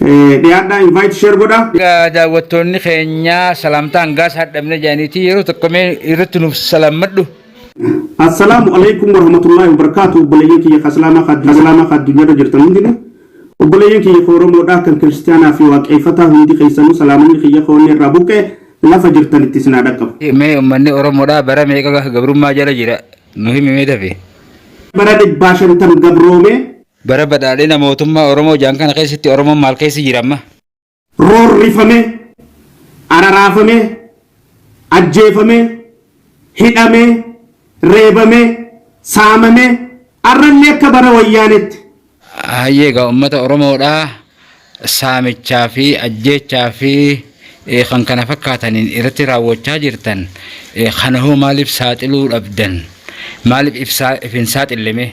Dhiyaadhaa invite share godha. Egaa daawwattoonni keenya salaamtaa hangaas hadhabne jedhaniiti yeroo tokko mee irratti nuuf salaammadhu. Assalaamu alaikum warahmatullahi wabarakatuh obboleeyyan kiyya ka islaamaa ka islaamaa ka addunyaarra jirtan hundinuu obboleeyyan kiyya ka oromoodhaa kan kiristiyaanaa fi waaqeeffataa hundi keessanuu salaamanni kiyya ka onnee irraa buqqee lafa jirtanitti isin haa dhaqqabu. Mee uummanni Oromoodhaa bara meeqa gabrummaa jala jira nu himi mee dafe. Bara dhibbaa shantam gabroomee Bara badhaadhina mootummaa Oromoo jedhan kana keessatti Oromoon maal keessa jira amma? Roorrifamee, araraafamee, ajjeefamee, hidhamee, reebamee, saamamee, arrallee akka bara Wayyaaneetti. Hayyee egaa uummata Oromoodhaa saamichaa fi ajjeechaa fi eh, kan kana fakkaataniin irratti raawwachaa jirtan eh, kana hoo maaliif saaxiluu dhabdan? Maaliif ibsaa if hin saaxillemee?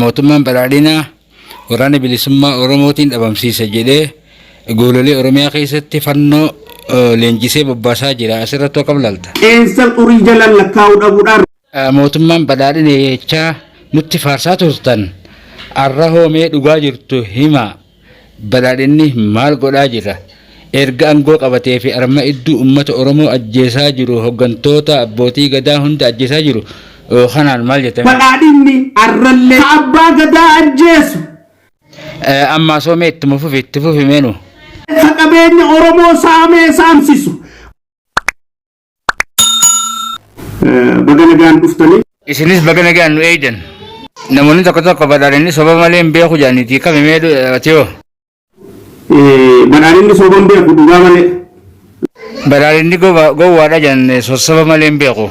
Mootummaan badhaadhinaa waraana bilisummaa Oromootiin dhabamsiisa jedhee goololee Oromiyaa keessatti fannoo leenjisee bobbaasaa jira. Asirratti hoo qablalta? Qeensa xurii jalaan lakkaa'uu dhabuudhaan. Mootummaan badhaadhina jechaa nutti faarsaa turtan arra hoo mee dhugaa jirtu himaa. Badhaadhinni maal godhaa jira? Erga angoo qabatee fi arma idduu ummata Oromoo ajjeesaa jiru hoggantoota abbootii gadaa hunda ajjeesaa jiru kanaan maal jettan? Badhaadhinni arrallee ka abbaa gadaa ajjeesu. Ammaasoo mee ittuma fufi itti fufi mee nu. Ka qabeenya Oromoo saamee saamsisu. Baga nagaan dhuftanii. Isinis baga nagaan nu eeydan. Namoonni tokko tokko badhaadhinni soba malee hin beeku jedhaniiti kami mee atiyoo. Badhaadhinni soba hin beeku dhugaa malee. Badhaadhinni gowwaadha jedhan sossaba malee hin beeku.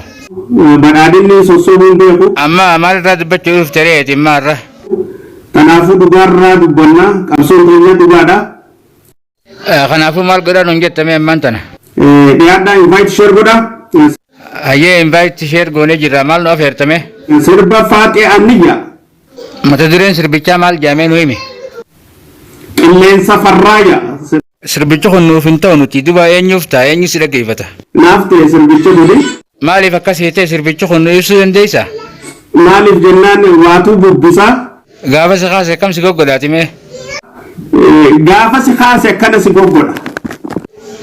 Badhaadhinni sossobuu hin beeku. Amma maal irraa dubbachuu dhufte reeti immaa irra. Kanaafuu dhugaarraa dubbannaa qabsoon keenya dhugaadha. Kanaafuu maal godhaa nuun jetta mee ammaan tana? Dhiyaadhaa invite share godhaa. Hayyee invite share goonee jirra maal nu afeerta mee? Sirba Faaxee Anniyyaa. Mata dureen sirbichaa maal jaamee nu himi? Qilleensa Farraaya. Sirbichi kun nuuf hin ta'u nuti duba eenyuuf ta'a eenyu si dhaggeeffata? Naaf ta'e sirbichi kuni. Maaliif akkas ta'e sirbichi kun nu ibsuu dandeessaa? Maaliif jennaan waatuu bubbisaa. Gaafa si kaase akkam si goggodhaati mee. Gaafa si kaase akkana si goggodha.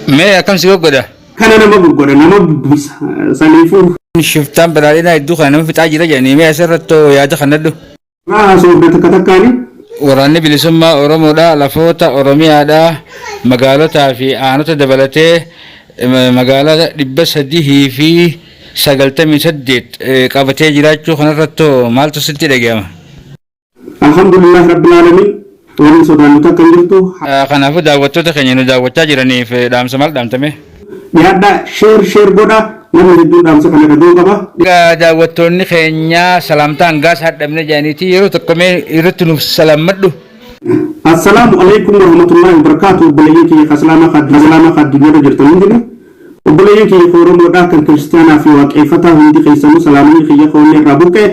Mee akkam si goggodha. Akkana nama goggodha nama bubbisa saniifuu. Shiftaan badhaadhinaa hedduu kana nama fixaa jira jedhanii mee asirrattoo yaada kannadhu. Irraa haasofna takka takkaani. Waraanni bilisummaa Oromoodha lafoota Oromiyaadha magaalotaa fi aanota dabalatee magaalaa dhibba sadihii fi 98 qabatee jiraachuu kanarrattoo maaltu sitti dhaga'ama? Alhamdulillaah Rabbil Aalamiin waan hin sodaannu takka hin jirtu. Kanaafuu daawwattoota keenya nu daawwachaa jiraniif dhaamsa maal dhaamta mee? Dhiyaadhaa share share godhaa namni hedduun dhaamsa kana dhaga'uu qaba. Egaa daawwattoonni keenya salaamtaa hangaas hadhabne jedhaniiti yeroo tokko mee irratti nuuf salaammadhu. Assalaamu alaikum warahmatullaahi wabarakaatu obboleeyyan kiyya ka islaamaa ka addunyaa irra jirtan hundinuu. Obboleeyyan kiyya ka Oromoodhaa kan Kiristiyaanaa fi Waaqeeyfataa hundi keeysanuu salaamanii kiyya ka onnee irraa burqe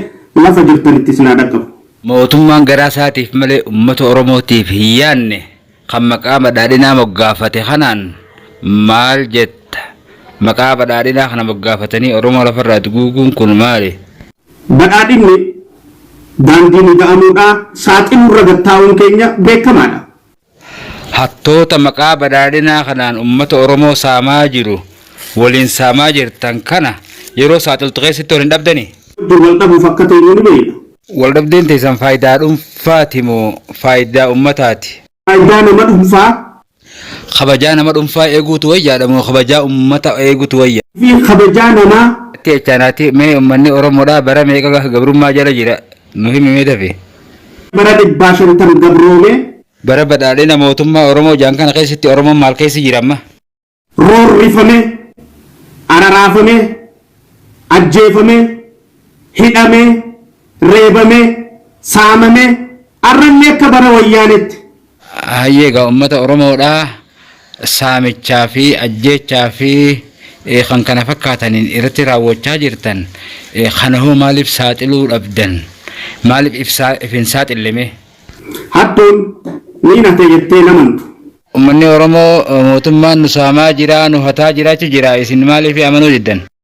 lafa jirtanitti isin haa dhaqqabu. Mootummaan garaa isaatiif malee ummata Oromootiif hin yaanne kan maqaa badhaadhinaa moggaafate kanaan maal jetta? Maqaa badhaadhinaa kana moggaafatanii Oromoo lafarraa duguuguun kun maali? Badhaadhinni daandiin ida'amuudhaa saaxiluurra gad taa'uun keenya beekamaadha. Hattoota maqaa badhaadhinaa kanaan ummata Oromoo saamaa jiru waliin saamaa jirtan kana yeroo saaxiltu keessatti wal hin dhabdanii? Dur wal dhabuuf akka teenyu ni beekna. Wal dhabdeen teessan faayidaa dhunfaati moo faayidaa ummataati? Faayidaa nama dhunfaa. Kabajaa nama dhunfaa eeguutu wayyaadha moo kabajaa ummata eegutu wayya? Fi kabajaa namaa. Natti jechaa naati mee ummanni Oromoodhaa bara meeqa gabrummaa jala jira? Nu himi mee dafii. Bara dhibbaa shantam gabroomee. Bara badhaadhina mootummaa Oromoo jedhan kana keessatti Oromoon maal keessa jira amma? Roorrifamee, araraafamee, ajjeefamee, hidhamee, reebamee, saamamee, har'allee akka bara Wayyaaneetti Hayyee egaa ummata Oromoodha saamichaa fi ajjeechaa fi kan kana fakkaataniin irratti raawwachaa jirtan kanahoo maaliif saaxiluu dhabdan? Maaliif if hin saaxille mee? Hattuun niin hate jettee hin amantu. Ummanni Oromoo mootummaan nu saamaa jira, nu hataa jira jechuun jira isin maaliif amanuu diddan?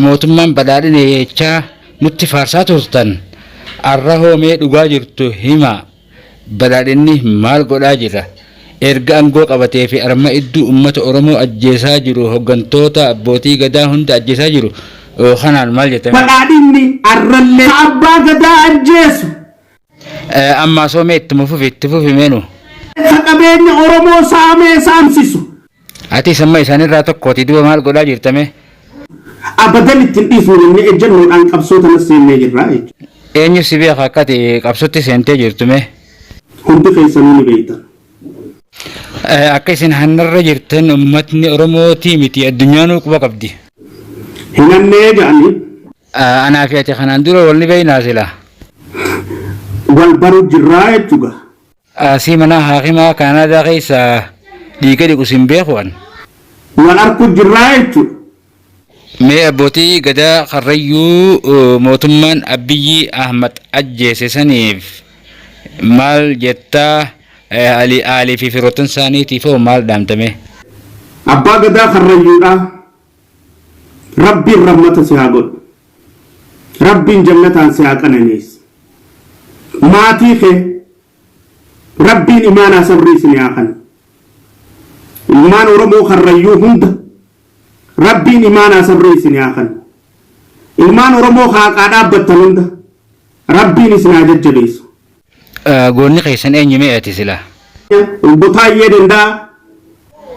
Mootummaan badhaadhina jechaa nutti faarsaa turtan arrahoo mee dhugaa jirtu himaa badhaadhinni maal godhaa jira erga angoo qabatee fi arma idduu ummata oromoo ajjeesaa jiru hoggantoota abbootii gadaa hunda ajjeesaa jiru kanaan maal jettan. Badhaadhinni arrallee ka abbaa gadaa ajjeesu Ammaa soomee ittuma fufi itti fufi meenu. Ka qabeenya Oromoo saamee saamsisu. Atis amma isaanirraa tokkooti duba maal godhaa jirtamee. Abadan itti hin dhiifnu jennee ejjannoodhaan qabsoo tanas seennee jirra jechuudha. Eenyu si beeka akka ati qabsotti seentee jirtu mee. Hundi keessanuu ni beektan. Akka isin hannarra jirtan ummatni Oromootii miti addunyaanuu quba qabdi. Hin hannee jedhanii. Anaa fi ati kanaan dura wal ni beeknaa silaa? Wal baru jirraa jechu gaa. Asii manaa haakimaa Kaanaadaa keessa dhiiga dhiqu sin beeku an. Wal arku jirraa jechu. Mee abbootii gadaa karrayyuu mootummaan Abbiyyi Ahmad ajjeese saniif maal jetta Alii fi firoottan isaaniitiif hoo maal dhaamta mee? Abbaa gadaa karrayyuudhaa. Rabbiin rahmata si haa godhu. Rabbiin jannataan si haa qananiisu. Maatii kee Rabbiin imaanaa sabrii isin haa kanu. Ilmaan Oromoo Karrayyuu hunda Rabbiin imaanaa sabrii isin haa kanu. Ilmaan Oromoo ka haqaa dhaabbattan hunda Rabbiin isin haa jajjabeessu. Goonni keessan eenyu mee ati silaa? Obbo Taayyee Danda'aa.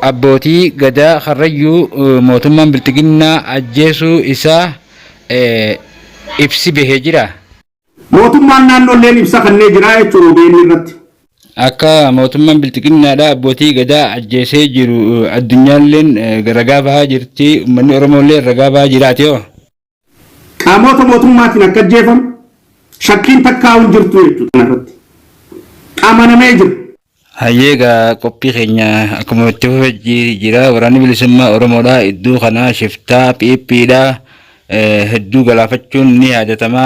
Abbootii Gadaa Karrayyuu mootummaan Bilxiginnaa ajjeesuu isaa ibsi bahe jiraa? Mootummaan naannoolleen ibsa kannee jiraa jechuun obn irratti. Akka mootummaan Bilxiginnaadhaa abbootii Gadaa ajjeesee jiru addunyaalleen ragaa bahaa jirti, ummanni Oromoolleen ragaa bahaa jiraati hoo? Qaamoota mootummaatiin akka ajjeefamu shakkiin takkaa'uu hin jirtu jechuudha kanarratti. Amanamee jira. Hayyee egaa qophii keenya akkuma itti fufe ji- jira waraanni bilisummaa Oromoodha iddoo kanaa shiftaa phiiphiidha eh, hedduu galaafachuun ni yaadatama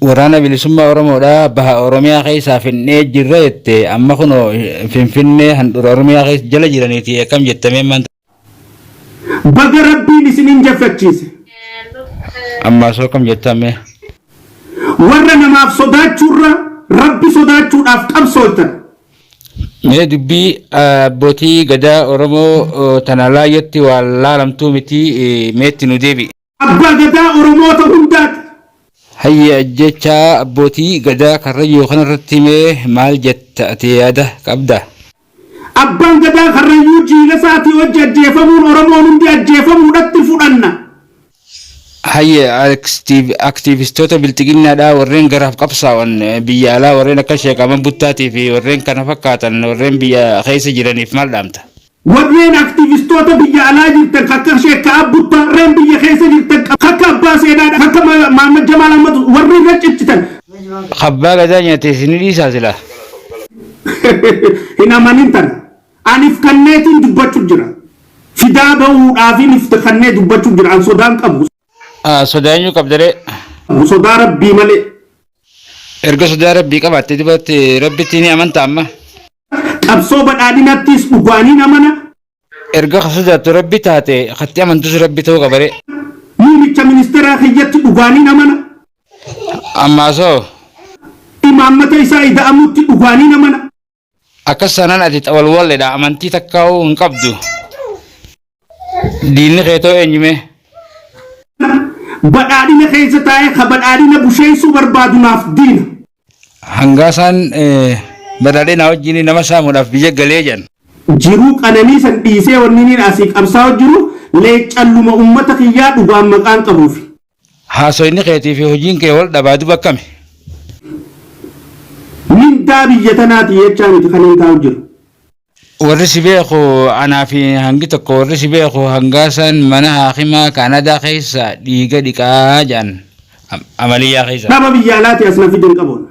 Waraana Bilisummaa Oromoodhaa baha Oromiyaa keessaa finnee jirra jette amma kunoo Finfinnee handhura Oromiyaa keessa jala jiraniiti akkam jettamee maanta. Baga rabbiin isin injaffachiise. Ammaa soo kam jettaan mee. Warra namaaf sodaachuurra rabbi sodaachuudhaaf qabsooltan. Mee dubbii abbootii gadaa Oromoo tana laayyatti waan laalamtuu miti meetti nu deebi'i. Abbaa Gadaa Oromoota hundaati. Hayyee ajjeechaa abbootii Gadaa Karrayyuu kanarratti mee maal jetta ati yaada qabda? Abbaan Gadaa Karrayyuu jiilasaatii wajji ajjeefamuun Oromoon hundi ajjeefamuudhatti fudhanna. Hayyee aktiivistoota bilxiginnaadhaa warreen garaaf qabsaa'an biyya alaa warreen akka Sheek Ahmad Buttaatii fi warreen kana fakkaatan warreen biyya keessa jiraniif maal dhaamta? Warreen aktiivistoota biyya alaa jirtan kan akka Sheek Ka'aab Buttaa, rreen biyya keessa jirtan kan akka Abbaa Seenaa, kan akka Mahammad Jamaal Ahmad warri irra ciccitan. Abbaa gadaa nyate isini dhiisaa silaa. Hin amanin tana. An if kanneetiin dubbachu jira. Fidaa bahuudhaafin if kannee dubbachu jira. An sodaa hin qabu. Sodaa eenyu qabda ree? Sodaa Rabbii malee. Erga sodaa Rabbii qabaatte dubatte Rabbitti ni amanta amma? Qabsoo badhaadhinattiis dhugaaniin amana. Erga ka sodaattu Rabbi taate, katti amantus Rabbi ta'uu qabare. Muumicha Ministeeraa kiyyatti dhugaaniin amana. Ammaas hoo? Imaammata isaa ida'amutti dhugaaniin amana. Akkas taanaan ati xawalwalledha, amantii takkaahuu hin qabdu. Diinni keetoo eenyumee? Badhaadhina keessa taa'ee ka badhaadhina busheessuu barbaadu naaf diina. Hangaasaan badhaadhina wajjin nama saamuudhaaf biyya galee jedhan. Jiruu qananii san dhiisee wanni inni asii qabsaa'u jiru leeccalluma ummata kiyyaa dhugaan maqaan qabuufi. Haasoyni keetii fi hojiin kee wal dhabaa duba akkami? Mindaa biyya tanaati jechaa miti kanin taa'u jiru. Warri si beeku anaa fi hangi tokko warri si beeku hangaasan mana haakimaa Kaanadaa keessa dhiiga dhiqaa jedhan amaliyyaa keessa. Dhaba biyya alaati as na fidin qaboon.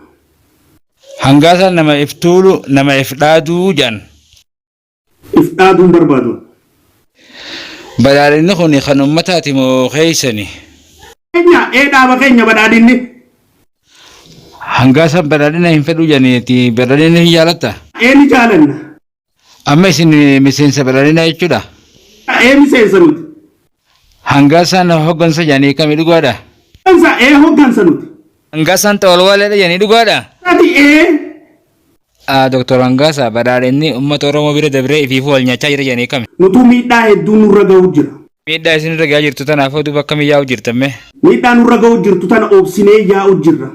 Hangaasan nama if tuulu nama if dhaadu jedhan. If dhaaduu hin barbaadu. Badhaadhinni kun kan ummataati moo keessani? Keenya ee dhaaba keenya badhaadhinni. Hangaa isaan badhaadhina hin fedhu jedhaniiti badhaadhina hin jaalatta? Ee ni jaalanna. Amma isin miseensa badhaadhinaa jechuudha. Ee miseensa nuti. Hangaa isaan hoggansa jedhanii kami dhugaadha? Hoggansa ee hoggansa nuti. Hangaa isaan xawalwaaleedha jedhanii dhugaadha? Ati ee Doktar Hangaasaa, Badhaadhinni ummata Oromoo bira dabree ifiifuu wal nyaachaa jira jedhanii kami? Nutuu miidhaa hedduu nurra gahu jira. Miidhaa isin irra gahaa jirtu tanaaf hoo duuba akkamiin yaa'u jirtan mee? Miidhaa nurra gahu jirtu tana obsinee yaa'u jirra.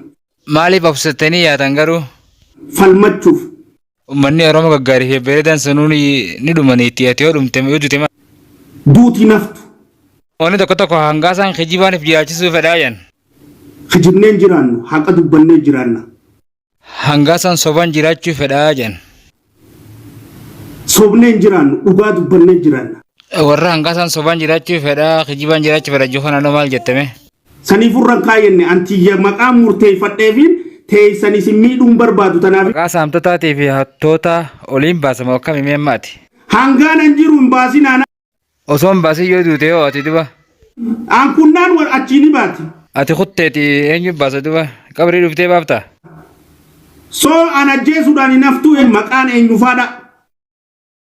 Maaliif obsattanii yaatan garuu? Falmachuuf. Ummanni Oromoo gaggaarii fi babbareedaan sanuu ni dhuma niitii ati yoo dhumte yoo dute maal? Duuti hin haftu. Namoonni tokko tokko Hangaasaan kijibaan if jiraachisuu fedhaa jedhan. Kijibnee hin jiraannu, haqa dubbannee jiraanna. Hangaa san soban jiraachuu fedhaa jedhan. Sobnee hin jiraannu dhugaa dubbannee jiraanna. Warra hangaa san soban jiraachuu fedhaa kijibaan jiraachuu fedha jechuu kanaan maal jettame? Saniif irraan kaayenne antiyya maqaa murteeffadheefiin teeysan isin miidhuun barbaadu tanaaf. Maqaa saamtotaatii fi hattootaa oliin baasama akkami mee maati? Hangaan an jiru hin baasinaa. Osoo hin baasin yoo duute hoo ati duba. Aankunnaan wal achii ni baati. Ati kutteeti eenyu baasa duba. Qabrii dhuftee baafta. Soo an ajjeesuudhaan hin haftuu hin maqaan eenyufaadha.